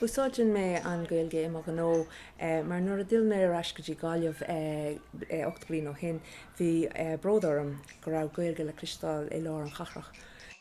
Úsáideann mé an Gaeilge i mo ghnó mar nuair a d'fhill mé ar ais go dtí Gaillimh ocht bliain ó shin bhí bród orm go raibh Gaeilge le cloisteáil i lár an chathrach.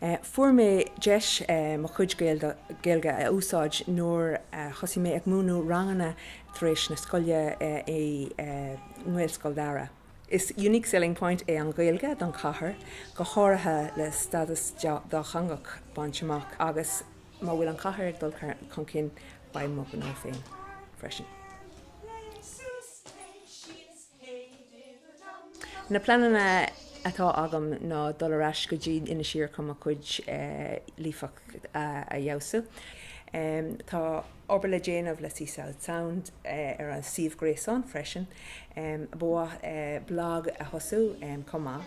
Fuair mé deis mo chuid Gaeilge a úsáid nuair a thosaigh mé ag múineadh ranganna tar éis na scoile i nGaelscoil Dara. Is unique selling point é an Ghaeilge don chathair, go háirithe le stádas dátheangach bainte amach agus má bhfuil an chathair ag dul chun cinn beidh mo ghnó féin freisin. Na pleananna atá agam ná dul ar ais go dtí Inis Oírr chun mo chuid líofacht a fheabhsú. Tá obair le déanamh le Sea South Sound ar an suíomh gréasáin freisin. Ba mhaith liom blag a thosú chomh maith.